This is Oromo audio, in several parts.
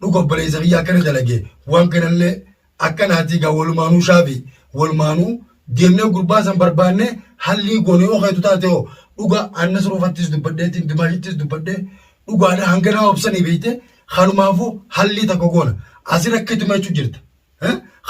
dhuga obboleessa kiyya akkana dalage waan kanallee akka naatii gaa walumaanuu shaafi walumaanuu deemnee gurbaa san barbaanne hallii goone yoo keetu taate hoo dhuga annas ruufattis dubbadheetiin dimaashittis dubbadhee dhugaadha hanga nama obsanii beekte kanumaafu hallii takka goona asirra akkatuma jechuu jirta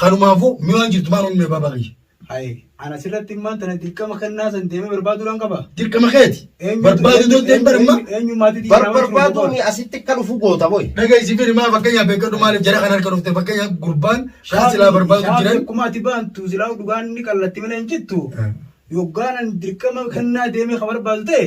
kanumaafuu mi'aan jirtu maan onnee baabaa kiyya. Haye ana sirratti immaan tana dirqama kannaa san deemee barbaaduu dhaan qaba. Dirqama keeti. Eenyutu- Barbaadu eenyu- dulteen eenyu- baramma. eenyu- eenyummaatu itti Bar- jiraama barbaadu jiru ni asitti akka dhufu goota boy. Dhagahi si firi maa fakkeenyaaf beekadhu maaliif jara kan harka dhufte fakkeenyaaf gurbaan kan silaa barbaadu Shaafii jiran. akkuma ati baantu silaa dhugaan ni qallatti malee hin jittu. Eh. Yoggaanan dirqama kannaa deemee ka barbaadu ta'e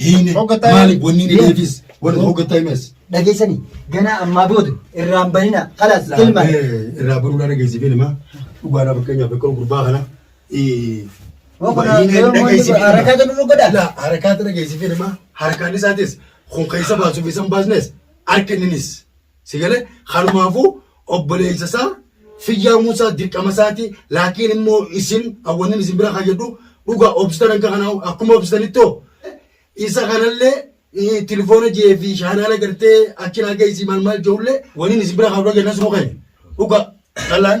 Hiine Hoggataa maali himes. wanni ni deebis warri hoggataa himes. Dhageessanii ganaa ammaa booda irraan bahinaa kalaas ilmaa. Irraa baruu dhaan dhageessi filma dhugaadhaa fakkeenyaaf akka gurbaa kana. Waan kana yoo moonni harakaa jedhu nu godha. Laa harakaata dhageessi filma harkaan isaatis kun keessa baasuuf isan baasnes harka inninis. Si galee kanumaafuu obboleessa isaa fiyyaa Muusaa dirqama isaati laakiin immoo isin awwannin isin bira kayyadhu dhugaa obsitan akka kana akkuma obsitanittoo isa kanallee eh, tilifoona jee fi shaanaala gartee achi naa geessi maal maal jeullee waniin isin bira kaabra jenna sunu keenya dhugaa dhalaan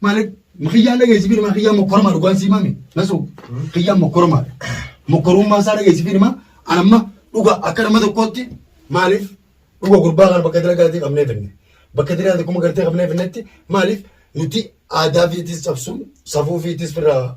Maalik kiyyaan dhageessifi nama kiyyaan mokkorama dhugaan sii maame nasu kiyyaan mokkorama mokkorummaa isaa dhageessifi nama anamma dhuga akka nama tokkootti maaliif dhuga gurbaa kana bakka dira galatee qabnee finne bakka dira galatee kuma galatee qabnee finnetti maaliif nuti aadaa fiitis cabsuun safuu fiitis firraa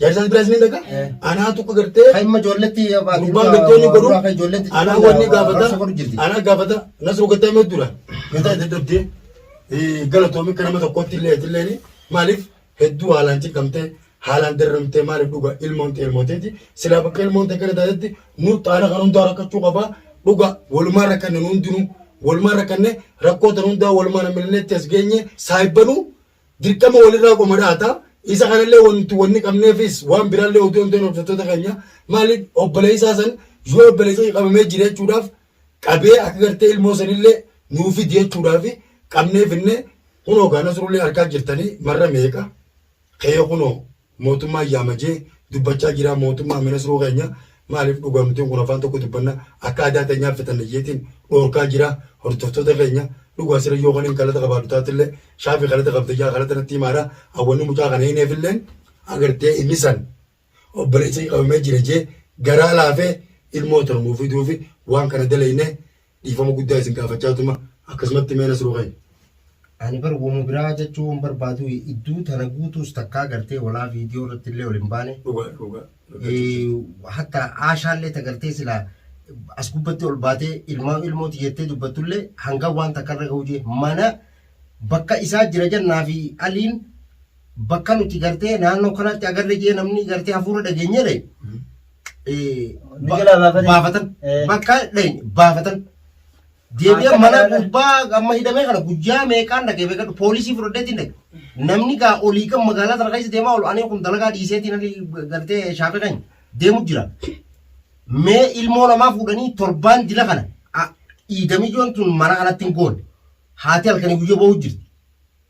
Jaarsaas biraas ni dhaqa. Eh. Anaa tuqa gartee. Kan imma ijoolletti gurbaan gartoonni godhu. Anaa wanni gaafata. Anaa gaafata. Nasruu gattee mee dura. Gataa itti dhabdee. Galatoomi kan nama tokkotti illee itti illee maaliif hedduu haalaan ciqamtee haalaan darramtee maaliif dhuga ilmoon ta'e ilmoo ta'eeti. Silaa bakka ilmoon ta'e kana taatetti nu xaala kan hundaa rakkachuu qabaa. Dhuga walumaa rakkanne nu hundinuu. Walumaa rakkanne rakkoo tan hundaa walumaa namni illee itti as geenye saayibbanuu. Dirqama walirraa qomadhaata. Isa kanallee wanti wanni qabneefis waan biraallee oduu himteen hordoftoota keenya maali obboleessaa san yoo obboleessaa qabamee jira jechuudhaaf qabee akka gartee ilmoo sanillee nuu fidi jechuudhaaf qabnee finne kunoo gaa nasrullee arkaa jirtanii marra meeqa kee kunoo Mootummaa yaama jee dubbachaa jiraa mootummaa mi nasruu keenya maaliif dhugaa nutiin kun afaan tokko dubbanna akka adaa tenyaa fitanna jeetiin dhoorkaa jiraa hordoftoota keenya dhugaa sira yoo kanin kalata qabaadhu taatille shaafi kalata qabda jaa kalata natti himaadha an wanni mucaa kana hineefilleen agartee inni san obboleessa qabamee jira jee garaa laafee ilmoo tana nuu fiduufi waan kana dalayne Dhiifama guddaa isin gaafachaa tuma akkasumatti mee nasruu keenya. Ani bar woma biraa jachuu wan barbaaduu idduu tana guutuus takkaa gartee walaa viidiyoo irrattillee ol hin baane. Dhugaa dhugaa dubbachuuf jirta. Hatta aashaallee ta gartee silaa as gubbatti ol baatee ilmaan ilmoo tiyya jettee dubbattullee hanga waan takka irra gahuu jee mana bakka isaa jira jannaa fi aliin bakka nuti gartee naannoo kanatti agarre jee namni gartee hafuura dhageenyere baafatan bakka dheenye baafatan deebi'ee mana gubbaa amma hidhamee kana guyyaa meeqaan dhagee beekadhu poolisii fudhadheetiin dhage namni gaa olii kan magaalaa sana keessa deemaa oolu ani kun dalagaa dhiiseetiin ani gartee shaafee kan deemu jira mee ilmoo namaa fuudhanii torbaan dila kana dhiigamiyyoon tun mana kanatti hin goone haati halkanii guyyaa ba'uu jirti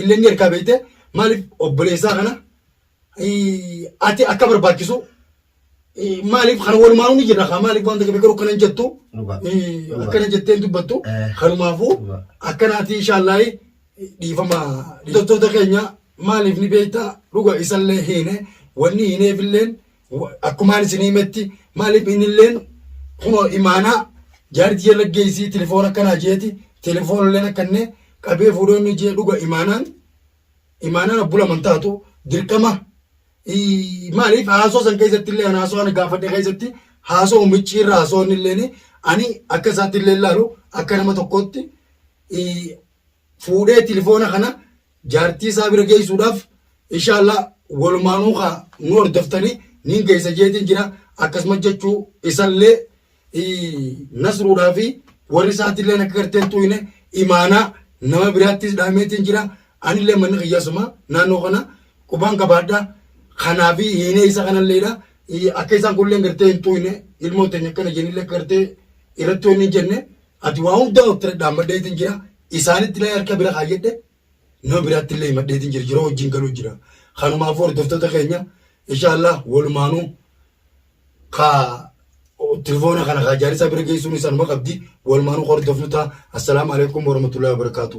illeen ergaa beeyte maaliif obboleessaa kana ati akka barbaachisu maaliif kan walumaanuu ni jirra kaa maaliif wanta gabe garuu kana hin jettu akkana jettee hin dubbattu kanumaafuu akkanaati inshaallahi dhiifama hidhattoota keenya maaliif ni beekta dhuga isallee hiine wanni hiineefilleen Akkumaan isin himetti maaliif innilleen kunoo imaanaa jaartii jala geessii telefoon akkanaa jeeti telefoon illeen akkanne qabee fuudhee inni jee dhuga imaanaan imaanaan abbula mantaatu dirqama maaliif haasoo san keessatti illee haasoo ani gaafadhe keessatti haasoo miccii irra haasoo inni illeen ani akka isaatti illee laalu akka nama tokkootti fuudhee tilifoona kana jaartii isaa bira geessuudhaaf inshaallah walumaanuu kaa nu hordoftanii nin geessa jeetiin jira akkasumas jechuu isallee nasruudhaa fi warri isaatillee akka garteen tuuyne imaanaa nama biraattis dhaameetiin jira anillee manni kiyyasuma naannoo kana qubaan qabaadha kanaa fi hiinee isa kanalleedha akka isaan kunillee gartee hin tuuyne ilmoon teenya akkana jenillee gartee irratti wanni hin jenne Ati waa hundaa obtiradhaan madheetiin jira isaanitti illee harka bira kaayyadhe nama biraatti illee madheetiin jira yeroo wajjin galuu jira. Kanumaaf hordoftoota keenya inshaallah walumaanuu kaa tirifoona kana kaa jaarisaa bira geessuun isaanuma qabdi walumaanuu hordofnu ta'a. Assalaamu alaikum warahmatullahi wabarakatuh.